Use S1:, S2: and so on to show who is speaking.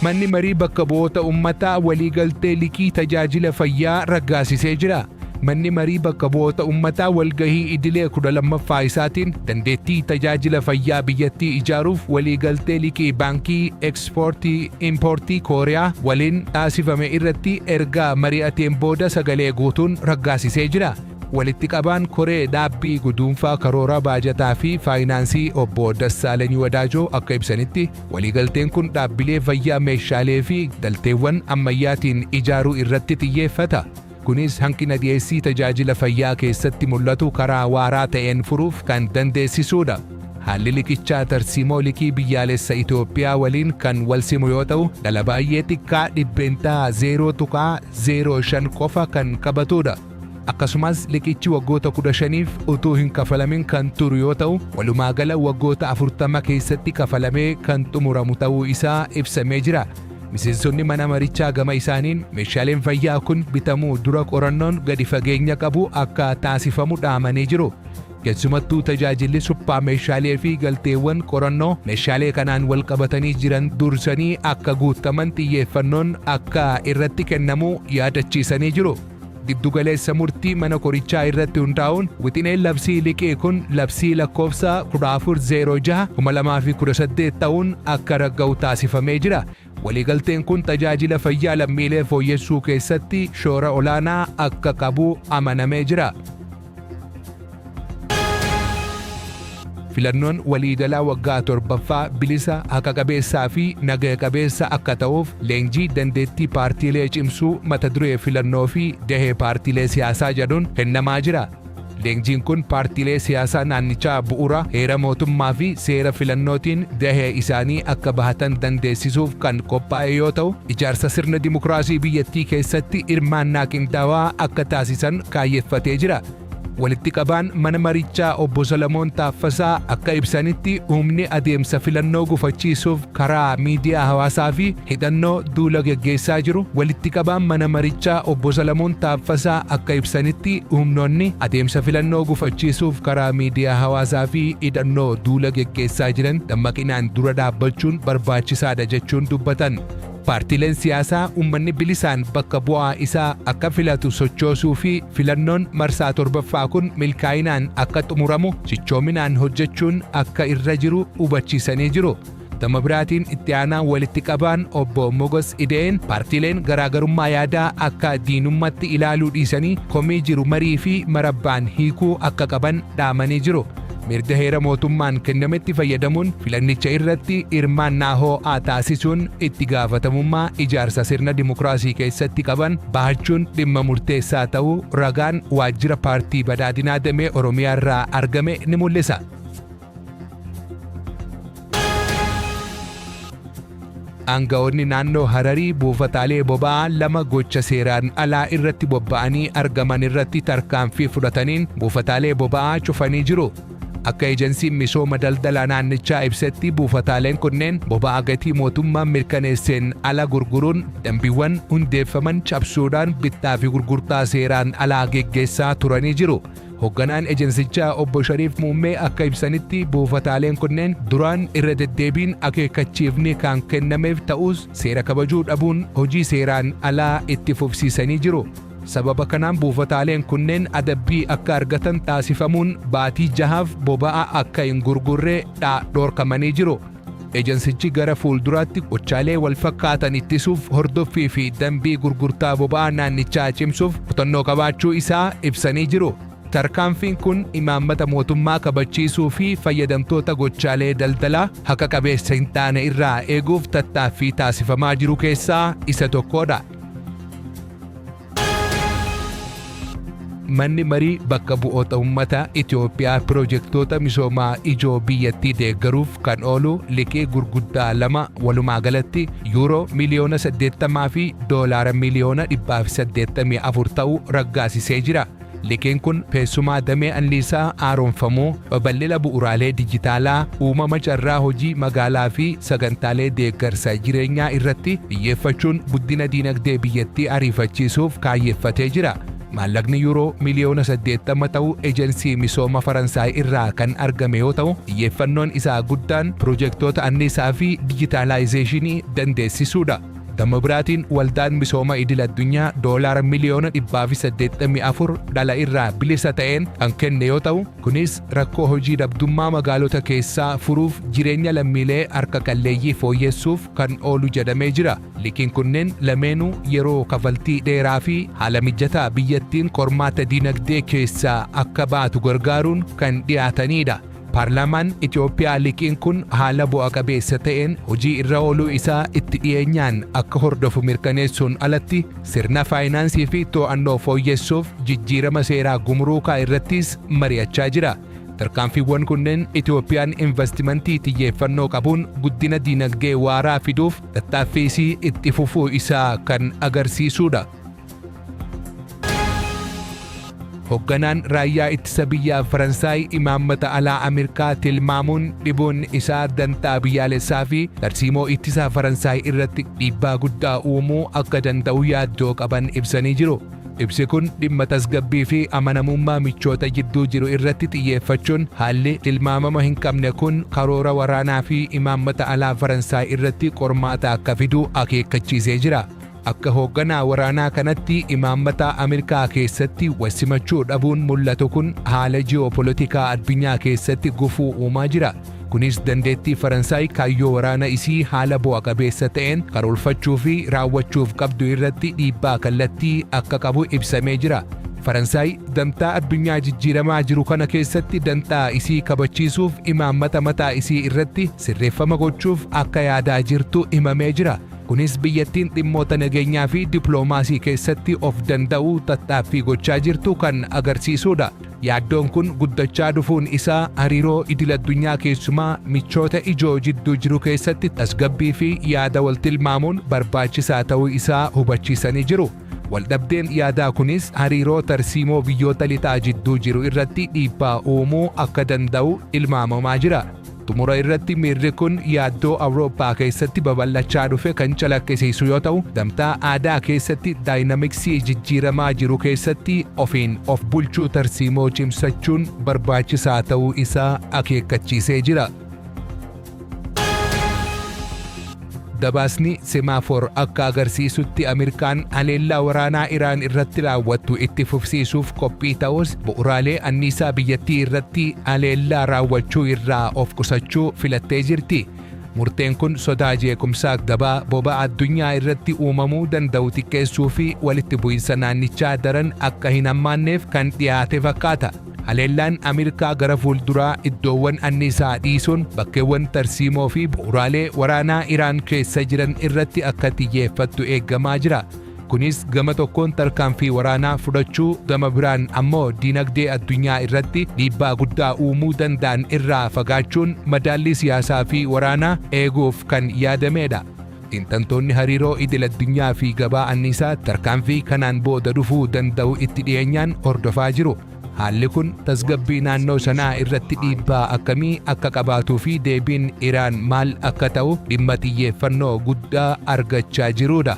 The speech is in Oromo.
S1: Manni Marii Bakka Bu'oota Ummataa waliigaltee liqii tajaajila fayyaa raggaasisee jira. Manni Marii Bakka Bu'oota Ummataa walgahii idilee 12ffaa isaatiin dandeettii tajaajila fayyaa biyyattii ijaaruuf waliigaltee liqii baankii Ekspoortii Impoortii Kooriyaa waliin taasifame irratti ergaa mari'ateen booda sagalee guutuun raggaasisee jira. Walitti qabaan koree dhaabbii guduunfaa karoora baajataa fi faayinaansii obbo Dassaaleny Wadaajoo akka ibsanitti, Waliigalteen kun dhaabbilee fayyaa meeshaalee fi galteewwan ammayyaatiin ijaaruu irratti xiyyeeffata, kunis hanqina dhiyeessii tajaajila fayyaa keessatti mul'atu karaa waaraa ta'een furuuf kan dandeessisuudha. Haalli liqichaa tarsiimoo liqii biyyaalessa Itoophiyaa waliin kan walsimu yoo ta'u, dhala baay'ee xiqqaa %0.05 qofa kan qabatuudha. Akkasumas liqichi waggoota 15f utuu hin kafalamin kan turu yoo ta'u, walumaa gala waggoota 40 keessatti kafalamee kan xumuramu ta'uu isaa ibsamee jira. Miseensonni mana marichaa gama isaaniin meeshaaleen fayyaa kun bitamuu dura qorannoon gadi fageenya qabu akka taasifamu dhaamanii jiru. Keessumattuu tajaajilli suphaa meeshaalee fi galteewwan qorannoo meeshaalee kanaan wal qabatanii jiran dursanii akka guuttaman xiyyeeffannoon akka irratti kennamu yaadachiisanii jiru. Giddugaleessa murtii mana korichaa irratti hundaa'uun wixineen labsii liqii kun labsii lakkoofsa 1406 2018 ta'uun akka ragga'u taasifamee jira. Waliigalteen kun tajaajila fayyaa lammiilee fooyyessuu keessatti shoora olaanaa akka qabu amanamee jira. Filannoon waliigalaa waggaa torbaffaa bilisa, haqa qabeessaa fi nagaya qabeessa akka ta'uuf leenjii dandeettii paartiilee cimsuu mata duree filannoo fi gahee paartiilee siyaasaa jedhuun kennamaa jira. Leenjiin kun paartiilee siyaasaa naannichaa bu'uura heera mootummaa fi seera filannootiin gahee isaanii akka bahatan dandeessisuuf kan qophaa'e yoo ta'u, ijaarsa sirna dimokiraasii biyyattii keessatti hirmaannaa qindaawaa akka taasisan kaayyeffatee jira. Walitti qabaan mana marichaa obbo Salamoon Taaffasaa akka ibsanitti humni adeemsa filannoo gufachiisuuf karaa miidiyaa hawaasaa fi hidhannoo duula geggeessaa jiru walitti qabaan mana marichaa obbo Salamoon Taaffasaa akka ibsanitti humnoonni adeemsa filannoo gufachiisuuf karaa miidiyaa hawaasaa fi hidhannoo duula geggeessaa jiran dammaqinaan dura dhaabbachuun barbaachisaadha jechuun dubbatan. Paartiileen siyaasaa ummanni bilisaan bakka bu'aa isaa akka filatu sochoosuu fi filannoon marsaa 7ffaa kun milkaa'inaan akka xumuramu cichoominaan hojjechuun akka irra jiru hubachiisanii jiru. Gama biraatiin itti aanaan walitti qabaan obbo Mogos Ida'een paartiileen garaagarummaa yaadaa akka diinummatti ilaaluu dhiisanii komii jiru marii fi marabbaan hiikuu akka qaban dhaamanii jiru. mirga heera mootummaan kennametti fayyadamuun filannicha irratti hirmaannaa hoo'aa taasisuun itti gaafatamummaa ijaarsa sirna dimokiraasii keessatti qaban bahachuun dhimma murteessaa ta'uu ragaan waajjira paartii badhaadhinaa damee Oromiyaarraa argame ni mul'isa. Aanga'oonni naannoo Hararii buufataalee boba'aa lama gocha seeraan alaa irratti bobba'anii argaman irratti tarkaanfii fudhataniin buufataalee boba'aa cufanii jiru. Akka ejensiin misooma daldalaa naannichaa ibsetti buufataaleen kunneen boba'aa gatii mootummaan mirkaneesseen ala gurguruun dambiiwwan hundeeffaman cabsuudhaan bittaa fi gurgurtaa seeraan alaa geggeessaa turanii jiru. Hogganaan ejensichaa obbo Shariif Muummee akka ibsanitti buufataaleen kunneen duraan irra deddeebiin akeekkachiifni kan kennameef ta'us seera kabajuu dhabuun hojii seeraan alaa itti fufsiisanii jiru. Sababa kanaan buufataaleen kunneen adabbii akka argatan taasifamuun baatii jahaaf boba'aa akka hin gurgurre dha dhorkamanii jiru. Ejansichi gara fuulduraatti gochaalee walfakkaatan ittisuuf hordoffii fi dambii gurgurtaa boba'aa naannichaa cimsuuf kutannoo qabaachuu isaa ibsanii jiru. Tarkaanfiin kun imaammata mootummaa kabachiisuu fi fayyadamtoota gochaalee daldalaa haqa qabeessa hin taane irraa eeguuf tattaaffii taasifamaa jiru keessaa isa tokkoodha. Manni marii bakka bu'oota ummataa Itoophiyaa pirojektoota misoomaa ijoo biyyattii deeggaruuf kan oolu liqii gurguddaa lama walumaa galatti yuuroo miliyoona 80 fi doolaara miliyoona 184 ta'u raggaasisee jira. Liqiin kun teessumaa damee anniisaa haaromfamuu, babal'ina bu'uraalee dijitaalaa, uumama carraa hojii magaalaa fi sagantaalee deeggarsa jireenyaa irratti xiyyeeffachuun guddina diinagdee biyyattii ariifachiisuuf kaayyeffatee jira. Maallaqni Yuuroo miliyoona 80 ta'u Ejensii Misooma Faransaay irraa kan argame yoo ta'u, xiyyeeffannoon isaa guddaan pirojektoota anniisaa fi dijitaalaayizeeshinii dandeessisuudha. Gama biraatiin waldaan misooma idil addunyaa doolaara miliyoona 184 dhala irraa bilisa ta'een kan kenne yoo ta'u, kunis rakkoo hojii dhabdummaa magaalota keessaa furuuf jireenya lammiilee harka qalleeyyii fooyyessuuf kan oolu jedhamee jira. Liqiin kunneen lameenuu yeroo kafaltii dheeraa fi haala mijataa biyyattiin qormaata dinagdee keessaa akka baatu gargaaruun kan dhiyaataniidha. Paarlaamaan Itoophiyaa liqiin kun haala bu'a qabeessa ta'een hojii irra ooluu isaa itti dhiyeenyaan akka hordofu mirkaneessuun alatti sirna faayinaansii fi to'annoo fooyyessuuf jijjiirama seeraa gumuruukaa irrattis mari'achaa jira. Tarkaanfiiwwan kunneen Itoophiyaan invastimantii xiyyeeffannoo qabuun guddina diinagdee waaraa fiduuf tattaaffii isii itti fufuu isaa kan agarsiisuudha. Hogganaan raayyaa ittisa biyyaa Faransaay imaammata alaa Ameerikaa tilmaamuun dhibuun isaa dantaa biyyaalessaa fi tarsiimoo ittisaa Faransaay irratti dhiibbaa guddaa uumuu akka danda'u yaaddoo qaban ibsanii jiru. Ibsi kun dhimma tasgabbii fi amanamummaa michoota jidduu jiru irratti xiyyeeffachuun haalli tilmaamama hin qabne kun karoora waraanaa fi imaammata alaa Faransaay irratti qormaata akka fidu akeekkachiisee jira. Akka hoogganaa waraanaa kanatti imaammataa Ameerikaa keessatti wasimachuu dhabuun mul'atu kun haala ji'oopolotikaa addunyaa keessatti gufuu uumaa jira. Kunis dandeettii Faransaay kaayyoo waraana isii haala bu'a qabeessa ta'een karoorfachuu fi raawwachuuf qabdu irratti dhiibbaa kallattii akka qabu ibsamee jira. Faransaay dantaa addunyaa jijjiiramaa jiru kana keessatti dantaa isii kabachiisuuf imaammata mataa isii irratti sirreeffama gochuuf akka yaadaa jirtu himamee jira. Kunis biyyattiin dhimmoota nageenyaa fi diploomaasii keessatti of danda'uu tattaaffii gochaa jirtu kan agarsiisuudha. Yaaddoon kun guddachaa dhufuun isaa hariiroo idil-addunyaa keessumaa michoota ijoo jidduu jiru keessatti tasgabbii fi yaada wal tilmaamuun barbaachisaa ta'uu isaa hubachiisanii jiru. Waldhabdeen yaadaa kunis hariiroo tarsiimoo biyyoota lixaa jidduu jiru irratti dhiibbaa uumuu akka danda'u tilmaamamaa jira. Xumura irratti miirri kun yaaddoo Awurooppaa keessatti babal'achaa dhufe kan calaqqisiisu yoo ta'u, gamtaa aadaa keessatti daayinamiksii jijjiiramaa jiru keessatti ofiin of bulchuu tarsiimoo cimsachuun barbaachisaa ta'uu isaa akeekkachiisee jira. Gabaasni Semaafor akka agarsiisutti Ameerikaan haleellaa waraanaa Iraan irratti raawwattu itti fufsiisuuf qophii ta'us bu'uraalee anniisaa biyyattii irratti haleellaa raawwachuu irraa of qusachuu filattee jirti. Murteen kun sodaa jeequmsaa gabaa boba'a addunyaa irratti uumamuu danda'u xiqqeessuu fi walitti bu'insa naannichaa daran akka hin hammaanneef kan dhiyaate fakkaata. Haleellaan Ameerikaa gara fuulduraa iddoowwan anniisaa dhiisuun bakkeewwan tarsiimoo fi bu'uuraalee waraanaa Iraan keessa jiran irratti akka xiyyeeffattu eegamaa jira. Kunis gama tokkoon tarkaanfii waraanaa fudhachuu, gama biraan ammoo diinagdee addunyaa irratti dhiibbaa guddaa uumuu danda'an irraa fagaachuun madaallii siyaasaa fi waraanaa eeguuf kan yaadamedha. Xiinxaltoonni hariiroo idil addunyaa fi gabaa anniisaa tarkaanfii kanaan booda dhufuu danda'u itti dhiyeenyaan hordofaa jiru. Haalli kun tasgabbii naannoo sanaa irratti dhiibbaa akkamii akka qabaatuu fi deebiin Iraan maal akka ta'u dhimma xiyyeeffannoo guddaa argachaa jiruudha.